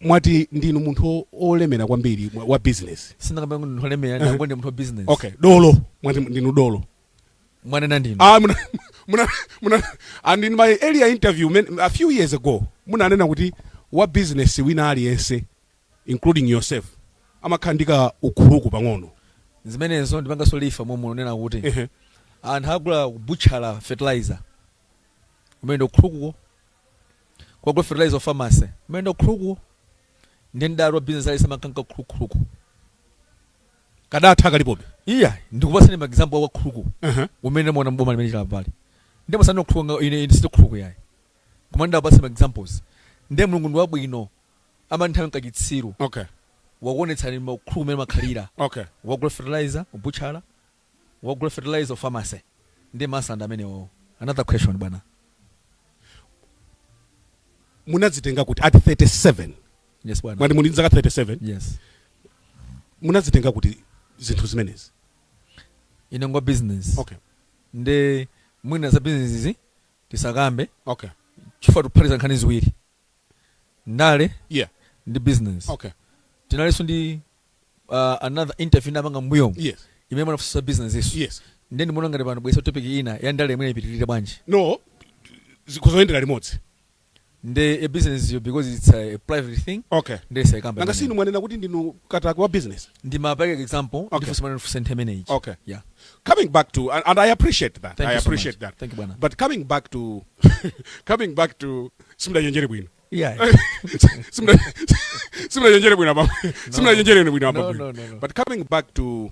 S1: mwati ndinu munthu o- olemera kwambiri mwa- wa business sindingakambe kuti munthu olemera
S2: ndangoti ndine munthu wa business okay dolo mwati
S1: ndinu dolo mwanena ndinu
S2: ah muna muna muna
S1: and in my earlier interview men, a few years ago munanena kuti wa business wina aliyense including yourself amakhala ndi ka ukhuluku pang'ono zimenezo
S2: ndipanganso lifa momwe munena kuti Ehe. anthu agula kubutchala fertilizer kumene ndi ukhulukuko wagula fertilizer wa pharmacy kumene ndi ukhulukuko ndi mdala wa business ali samakhala ka
S1: ukhuluku kadatha kalipobe iya ndikupasani
S2: ma example wa khuluku uh-huh. umene mwaona mboma limene chilipoli ndi masano khuluku ine ine sito khuluku yayi koma ndapasa ma examples nde mulungu ndi wabwino amanthawi nkachitsiru okay
S1: wakuonetsani
S2: makhuluku mene makhalira okay wagula
S1: fertilizer
S2: kubutchala wagula fertilizer ku pharmacy ndi masanda amenewo. Another question
S1: bwana. Munadzitenga kuti at 37? Yes bwana. Mwati
S2: muli ndi zaka 37?
S1: Yes. Munadzitenga kuti zinthu zimenezi?
S2: Ine ngwa business. Okay. Nde mwina za business izi tisakambe. Okay.
S1: Chifukwa tiphatiza
S2: nkhani ziwiri. Ndale. Yeah.
S1: Ndi business.
S2: Okay. Tinalinso
S1: ndi
S2: uh, another interview ndapanga mbuyomu yes imene
S1: munafusa
S2: business izo yes nde ndimuona
S1: ngati pano mwabwesa
S2: topic ina ya ndale imene ipitirire bwanji no
S1: zikhoza kuyendera limodzi nde ya
S2: business yo because it's a, a private thing okay nde sindiyikamba
S1: nanga
S2: sinu mwanena kuti
S1: ndinu katakwe wa business ndimapereka
S2: example Okay. ndifusa mwana ndifusa
S1: nthe imene
S2: ichi Okay.
S1: yeah
S2: coming back to
S1: and, and i appreciate that Thank i you so appreciate much. that Thank you,
S2: bwana. but
S1: coming
S2: back to
S1: coming back to simudachenjere bwino Yeah.
S2: Simna-
S1: simnachenjere bwino apa simnachenjere bwino apa No, no, no, no. but coming
S2: back to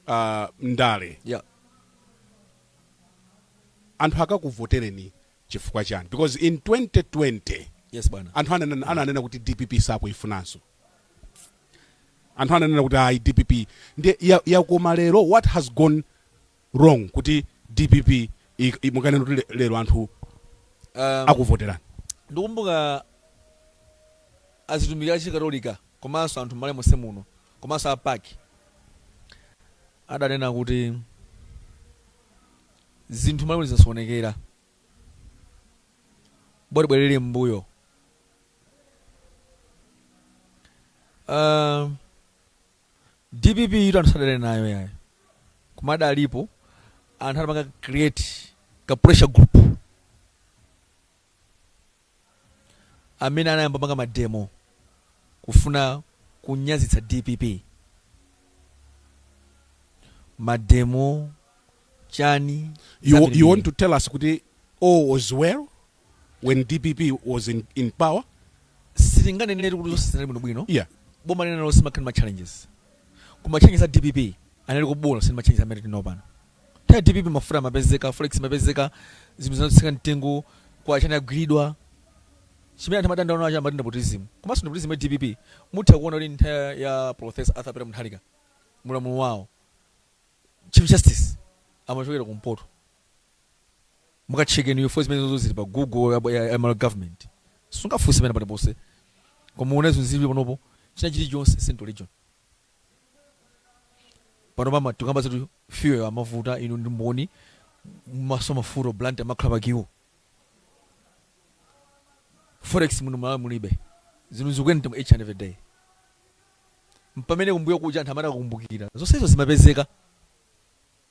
S1: uh, ndale
S2: Yeah.
S1: anthu akakuvotereni chifukwa chani because in 2020 Yes bwana. anthu
S2: ananena ananena kuti
S1: dpp sakuyifunanso anthu ananena kuti ayi dpp ndi ya- yakoma lero what has gone wrong kuti dpp mukanena kuti lero anthu um, akuvoterani
S2: ndikumbuka atumiki a chikatolika komanso anthu m'Malawi monse muno komanso a PAC adanena kuti zinthu m'Malawi zisasokonekera bwerera mbuyo uh, dpp itu anthu sadali nayo yayi koma adalipo anthu adapanga create ka pressure group amene anayamba panga mademo kufuna kunyazitsa dpp mademo chani you
S1: want to tell us kuti all was well when dpp was in, in power
S2: sitinganenere kuti zonse zinali bwinobwino yeah. boma
S1: lina lonse mumakhala
S2: ma challenges koma challenges a dpp anali abwino si ma challenges amene tili nawo pano nthawi ya dpp mafuta amapezeka forex imapezeka zinthu zinatsika mtengo kwa chani yagwiridwa chimene anthu amadandaula nacho amati ndi nepotism komanso nepotism ya dpp mutha kuona kuti nthawi ya professor arthur peter mutharika mu ulamuliro wawo chief justice amachokera kumpoto mukachekeni info zimenezozo zili pa google ya, ya, ya malawi government sungafunse pena paliponse koma muone zomwe zili panopo china chilichonse central region pano pamene tikukamba zatu fuel amavuta inu ndi mboni maso mafuta Blantyre amakhala pa queue forex muno malawi mulibe zinthu zikukwera each and every day pamene kumbuyo kuja anthu amene akukumbukira zonsezo zimapezeka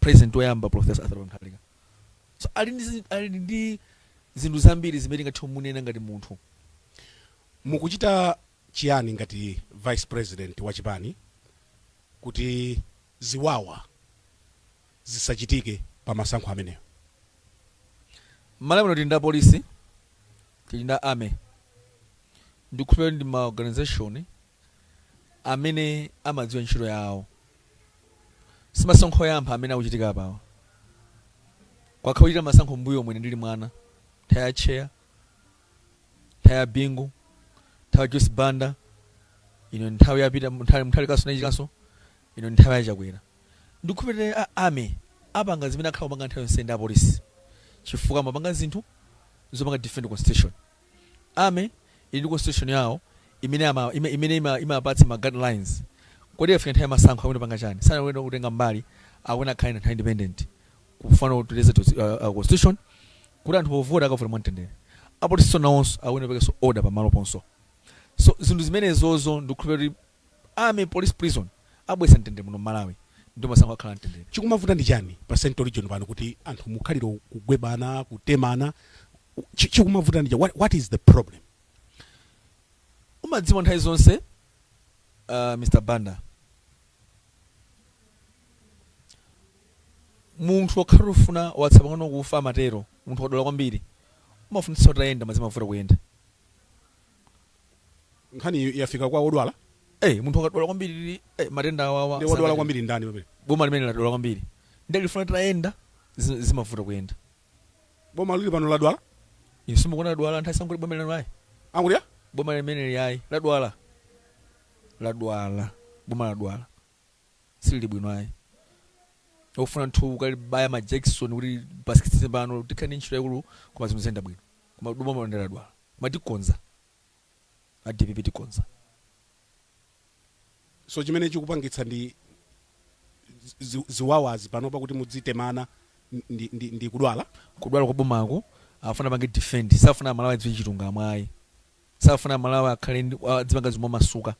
S2: President woyamba Prof. Arthur Peter Mutharika so ali ali ndi zinthu zambiri zimene tingathe kumunena ngati
S1: munthu. Mukuchita chiyani ngati Vice President wa chipani kuti ziwawa zisachitike pa masankho amenewo? M'Malawi
S2: muno tili ndi apolisi, tili ndi a army, ndikukhulupirira kuti ndi ma organization amene amadziwa ntchito yawo. Simasankho oyamba amene akuchitika apawa. Kwakhala kukuchitika masankho mbuyomu ine ndili mwana. Nthawi ya Tcheya, nthawi ya Bingu, nthawi ya Joyce Banda, ino nthawi ya Peter Mutharika anachitikanso, ino nthawi ya Chakwera. Ndikukhulupirira a Army apanga zimene akhala akupanga nthawi yonse ndi apolisi chifukwa amapanga zinthu zopanga defend constitution. Army ili ndi constitution yawo imene ama ime, imene ima, imapatsa ma guidelines. Kodi ikafika nthawi ya masankho akuyenera kupanga chani? Sakuyenera kutenga mbali akuyenera akhale anthu a independent kufuna kuteteza to, uh, uh, constitution kuti anthu povota akavote mwamtendere. Apolisinso nawonso akuyenera aperekenso order pamaloponse. So zinthu zimenezozo ndikukhulupirira kuti Army police prison abweretsa mtendere muno mmalawi ndipo masankho akhala amtendere. Chikumavuta ndi chani
S1: pa central region pano kuti anthu mukhalira kugwebana kutemana chikumavuta ndi chani what is the problem. Umadziwa
S2: nthawi zonse uh, Mr Banda munthu akakhala akufuna watsala pang'ono kufa amatero munthu wadwala kwambiri umafunitsa kuti uyende ma zimavuta kuyenda
S1: nkhaniyi yafika kwa odwala Eh, munthu
S2: akadwala kwambiri eh, matenda awawa ndi wadwala sangathe- kwambiri
S1: ndani pamene boma limene ladwala
S2: kwambiri ndi lifuna kuti liyende zi- zimavuta kuyenda boma
S1: lili pano ladwala inu simukuona
S2: ladwala nthawi sanguti boma lino ayi angulia
S1: boma
S2: limeneli ayi ladwala ladwala boma ladwala silili bwino ayi lofuna munthu akalibaya majakisoni kuti pasikitise pano tikhala ndi ntchito yaikulu koma zinthu ziyenda bwino koma boma lino ladwala Ma tikonza a dpp
S1: tikonza. So chimene chikupangitsa ndi zi, ziwawazi panopa kuti mudzitemana ndi, ndi, ndi kudwala? Kudwala kwa
S2: bomaku akufuna apange defend, sakufuna amalawi adziwe chilungamo ayi. Sakufuna amalawi akhale ndi, adzipanga zinthu momasuka.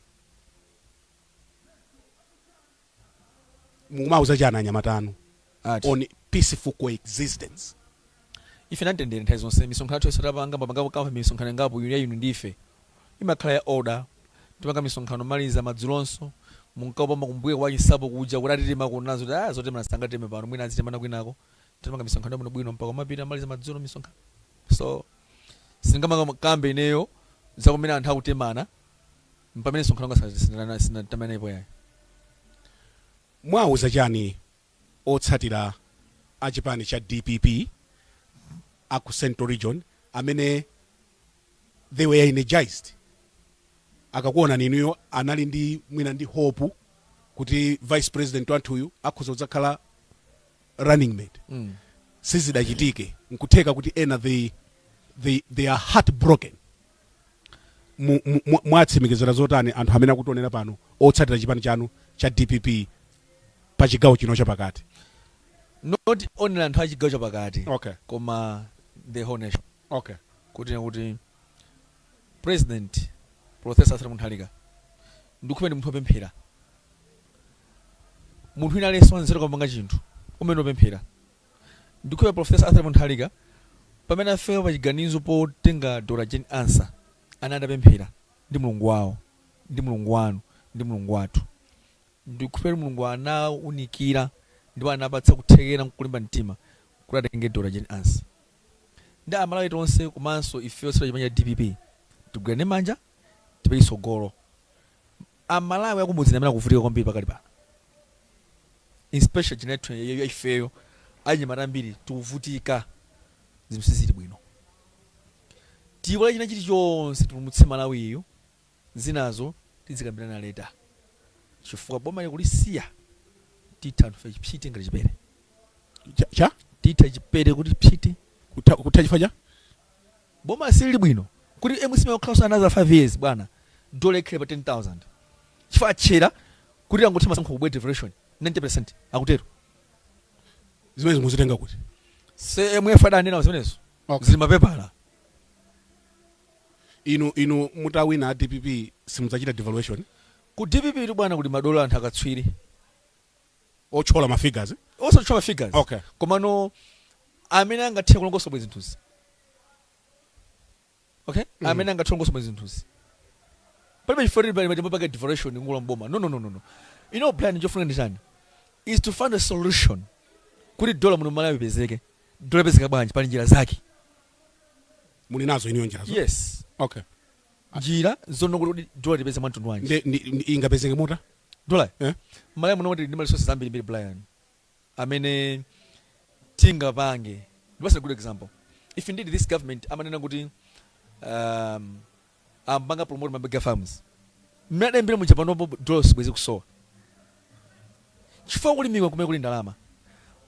S1: mukumauza chani anyamata anu Ati. on peaceful coexistence
S2: ife ndi amtendere nthawi zonse misonkhano yathu yonse tapanga mwapanga kale misonkhano ingapo inu ndi ife imakhala ya order tipanga misonkhano kumaliza madzulonso munkapanga kumbuye kwa chisapo kuja kuti atitema kulibe zo kuti ah zotemana sangateme pano mwina azitemana kwinako tipanga misonkhano yabwino bwino mpaka tapita kumaliza madzulo misonkhano so sindingakambe ineyo za kumene anthu akutemana pamene msonkhano wanga sindinana sitinatemanepo ayi.
S1: Mwauza chani otsatira a chipani cha dpp a ku central region amene they were energized akakuonani inuyo anali ndi mwina ndi hope kuti vice president wathuyu akhoza kudzakhala running mate Mm. sizinachitike nkutheka kuti ena they, they, they are heartbroken mu, mu, mu, muwatsimikizira zotani anthu amene akutionera pano otsatira chipani chanu cha dpp pa chigawo chino chapakati not
S2: only anthu a chigawo chapakati okay. koma the whole nation okay.
S1: kuti
S2: kuti president professor arthur mutharika ndikukhulupirira ndi munthu opemphera munthu wina aliyense wanzeru amapanga chinthu amayamba wapemphera Ndikukhulupira Professor Arthur Mutharika pamene afika pachiganizo potenga Dr Jane Ansah anali atapemphera ndi Mulungu wawo ndi Mulungu wanu ndi Mulungu wathu. Ndikukhulupira kuti Mulungu anawaunikira ndipo anawapatsa kuthekera nkulimba mtima kuti atenge Dr Jane Ansah. Nde amalawi tonse komanso ife otsatira chipani cha dpp tigwirane manja tipite chitsogolo. A Malawi akumudzi ndiamene akuvutika kwambiri pakali pano especially generation ya ifeyo achinyamata ambiri tikuvutika zinthu sizili bwino tiyiwala china chili chonse tipulumutse Malawiyu zinazo tidzikambirana later chifukwa boma ili kulisiya titha anthu fe psiti ngati chipere Cha? cha?
S1: titha chipere
S2: kuti psiti Kutha, kutha chifukwa cha? Boma silili bwino kuti mcp ingokhalanso another 5 years bwana dola ikhale pa 10,000 chifukwa atchera kuti tangotha masankho kubwere devaluation 90% akutero.
S1: Zimenezi muzitenga kuti?
S2: IMF adanena zimenezo Ok. zili mmapepala.
S1: Inu inu mutawina a dpp simudzachita devaluation? Ku dpp
S2: tu bwana kuli madolo anthu akatswiri.
S1: otchola ma figures? Osatchola ma
S2: figures Okay. komano amene angathe kulongosola bwino zinthuzi okay amene angathe kulongosola bwino zinthuzi palibe chifukwa tili pali matembo pake devaluation ngula mboma no no no no no you know plan chofunika ndi chani is to find a solution kuti dola muno mmalawi ipezeke dola ipezeka bwanji pali njira zake
S1: Muli nazo inuyo njirazo? yes Okay.
S2: njira zonena kuti dola tipeze mwa mtundu wanji nde ndi- ndi- ingapezeke
S1: motani dola
S2: Eh? mmalawi muno tili ndi ma resources ambirimbiri brian amene tingapange ndikupatsa good example if indeed this government amanena kuti um, akupanga promote ma mega farms mmene adayambira muja panopo dola sibwezi ikusowa chifukwa kulimaku ndi kumene kuli ndalama.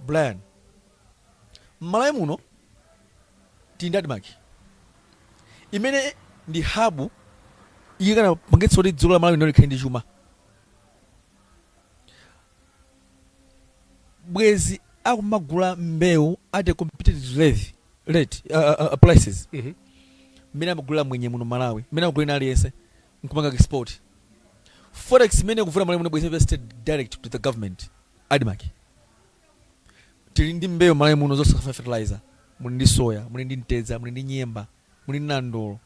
S2: Brian, m'Malawi muno tili ndi Admarc imene ndi hub yokanapangitsa kuti dziko la Malawi lino likhale ndi chuma, bwezi akumagula mbewu at a competitive rate, rate uh, uh, prices mmene amagulira mwenye muno mMalawi, mmene amagulira aliyense nkupanga export forex imene ikuvuta mmalawi muno bwezi ikupita straight direct to the government admark tili ndi mbewu mmalawi muno zosafuna fertilizer muli ndi soya muli ndi mtedza muli ndi nyemba muli ndi nandolo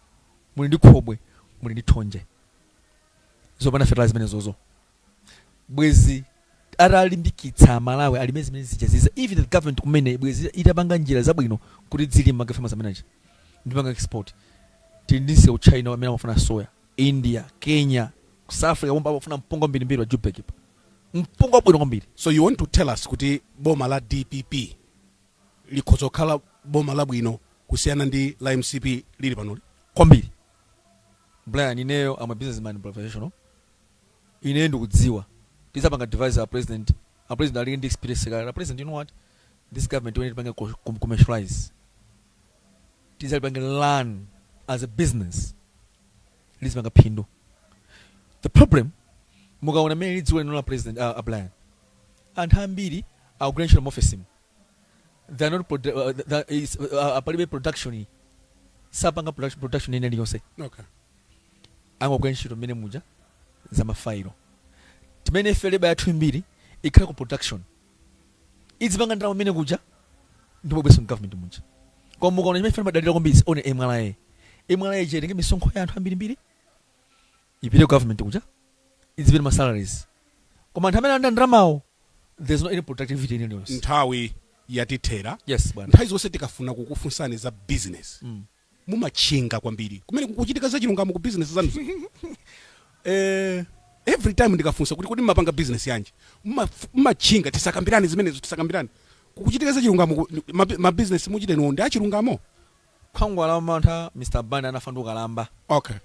S2: muli ndi khobwe muli ndi thonje zopanda fertilizer zimenezozo bwezi atalimbikitsa amalawi alime zimenezi zija zija even the government kumene bwezi itapanga njira zabwino kuti zilimidwe farmers amene aja nkupanga export tili ndi msika ku china amene amafuna soya india kenya ku south africa pomwe amafuna mpunga wambirimbiri wa jubek pa mpunga wabwino kwambiri so you want to tell
S1: us kuti boma la dpp likhoza kukhala boma labwino kusiyana ndi la mcp lili panoli kwambiri
S2: brian ineyo am a businessman professional Ine ndikudziwa tidzapanga advise a president, a president ali ndi experience kale, a president you know what this government timuipanga commercialize tidzalipange run as a business lizipanga phindu. The problem mukaona mmene lili dziko lino la president a Brian anthu ambiri akugwira ntchito mu maofesimu they are not produ uh, the, is, uh, palibe production sapanga production, production ina iliyonse. Okay. angagwire ntchito mmene muja za ma failo timene ife leba yathu imbiri ikhale ku production idzipanga ndalama mmene kuja ndipo bweso government muja koma mukaona chimene ife timadalira kwambiri is only MRA MRA ija itenge misonkho ya anthu ambirimbiri ipite ku government kuja idzipita ma salaries koma anthu amene alandira ndalamawo there's no any productivity ina iliyonse nthawi
S1: yatithera yes bwana nthawi zonse
S2: tikafuna
S1: kukufunsani za business mumatchinga kwambiri kumene kukuchitika zachilungamo ku business zanuzo eh, every time ndikafunsa kuti kodi mmapanga business yanji Mma- mmatchinga tisakambirane zimenezo tisakambirane kukuchitika zachilungamo ku- ma- ma business muchite inuwo ndi achilungamo
S2: khwangwala wamantha mr banda anafa ndi ukalamba okay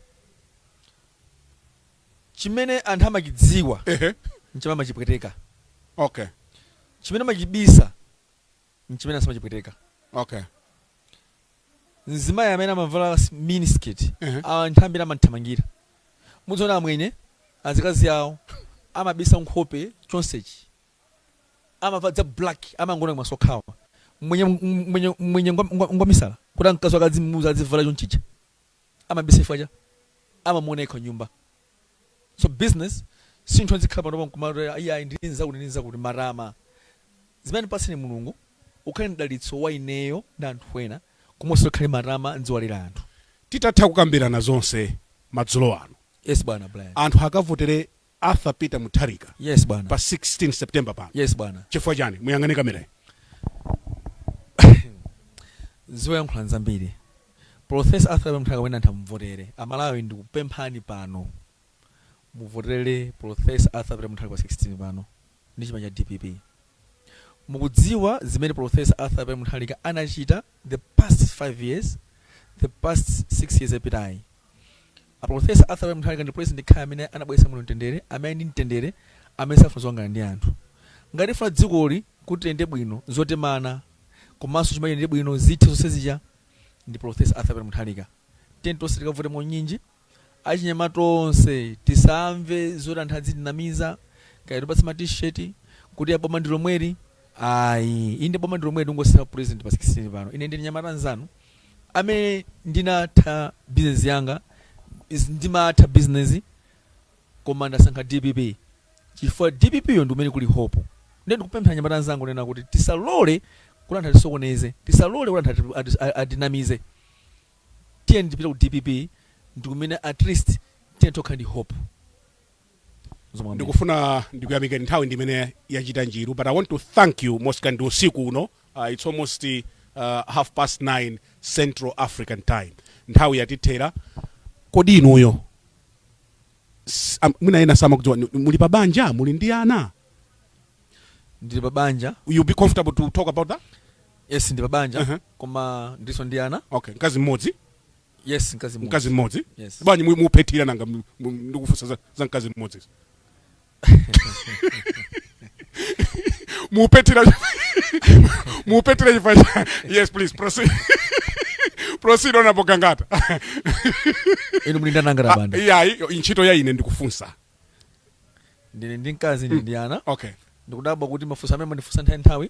S2: chimene anthu amachidziwa ehe nchimene amachipweteka okay
S1: chimene
S2: amachibisa nchimene asamachipweteka
S1: okay
S2: mzimayi amene amavala s- miniskirt Ehe. anthu ambiri amamthamangira muziona amwenye azikazi awo amabisa nkhope chonsechi amavala za black amangoona maso okhawa mwenye mwenye mwenye ngwa- ngwa- ngwamisala kuti mkazi wake azimuuza azivala chonchicha amabisa chifukwa choti amamuona yekha nyumba so business si zinthu ndizikhala panopa nkumati ayi ayi ndili ndi zakuti ndili ndi zakuti matama zimene wandipatsa ine mulungu ukhale mdalitso wa ineyo ndi anthu ena koma usakhale matama ndizinyadira anthu Titatha kukambirana
S1: zonse madzulo ano, yes bwana brian
S2: anthu akavotere
S1: Arthur Peter Mutharika Yes bwana. pa
S2: 16
S1: September pano. Yes bwana. Chifukwa
S2: chani? Muyang'ane kamera. Zoyankhula nzambiri. Professor Arthur Peter Mutharika wina atamuvotere. Amalawi ndikupemphani pano. Muvotere Professor Arthur Peter Mutharika pa 16 pano. Ndi chipani cha DPP. Mukudziwa zimene Professor Arthur Peter Mutharika anachita the past 5 years, the past 6 years yapitayi. A Prof. Arthur Peter Mutharika ndi President yekhayo amene anabweretsa muno mtendere, amene ndi mtendere, amene safuna zokangana ndi anthu. Ngati tifuna dzikoli kuti liyende bwino, zotemana komanso chuma chiyendere bwino zithe zonse zija ndi Prof. Arthur Peter Mutharika. Tiyeni tonse tikavote mwaunyinji. Achinyamata tonse tisamve zoti anthu azitinamiza, kaya atipatse ma t-shirt, kuti a boma ndi lomweli. Ayi, inde boma ndi lomweli tingosintha President pa 16 pano. Ine ndine mnyamata mzanu. amene ndinatha business yanga ndimatha business koma ndasankha dpp chifukwa dpp yo ndikumene kuli hope nde ndikupempha anyamata anzanga kunena kuti tisalole kuti anthu atisokoneze tisalole kuti anthu ati- ati- a- atinamize tiyeni tipite ku dpp ndikumene at least tiyeni tokhala ndi hope
S1: ndikufuna ndikuyamikeni nthawi ndimene yachita njiru but i want to thank you mosakandi usiku uno uh, it's almost uh, half past 9 central african time nthawi yatithera kodi inuyo s- am- mwina ena samakudziwa ni- muli pa banja muli ndi
S2: ana ndili pa banja you be comfortable to
S1: talk about that yes ndili
S2: pa banja Uh-huh. koma ndiso ndi ana okay mkazi mmodzi
S1: yes
S2: mkazi mmodzi. mkazi mmodzi Yes. bwanji mu-
S1: mukuphethira nanga mu- mu- ndikufunsa za, za mkazi mmodzi mukuphethira mukuphethira chifukwa cha- yes please proceed proceed honorable
S2: gangata inu muli ndanangala banda ya ntchito ya ine
S1: ndikufunsa
S2: ndine ndi mkazi ndi ndi ana okay ndikudabwa
S1: kuti mafunso
S2: amene mumandifunsa nthawi nthawi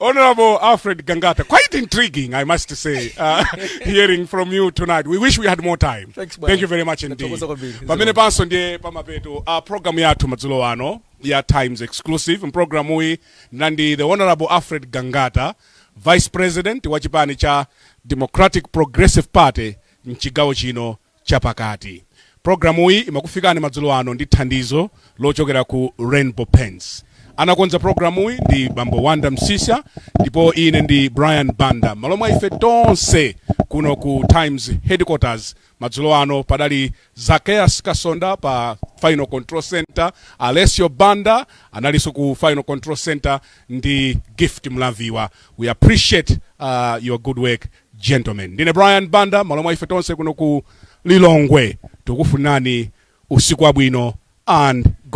S1: Honorable Alfred Gangata, quite intriguing, I must say, uh, hearing from you tonight. We wish we had more time. Thanks, bwana. Thank you very much indeed. Ndathokoza kwambiri. Pamenepanso ndiye pamapeto uh, program yathu madzulo ano ya Times Exclusive mprogramu uyi ndinali ndi Honorable Alfred Gangata, Vice President wa chipani cha Democratic Progressive Party mchigawo chino chapakati. Programuyi imakufikani madzulo ano ndi thandizo lochokera ku Rainbow Paints. Anakonza programuyi ndi Bambo Wonder Msiska ndipo ine ndi Brian Banda. M'malo mwa ife tonse kuno ku Times Headquarters madzulo ano padali Zakeas Kasonda pa Final Control Center, Alessio Banda analinso ku Final Control Center ndi Gift Mlaviwa. We appreciate uh, your good work. gentlemen ndine brian banda m'malo mwa ife tonse kuno ku lilongwe tikufunirani usiku wabwino and good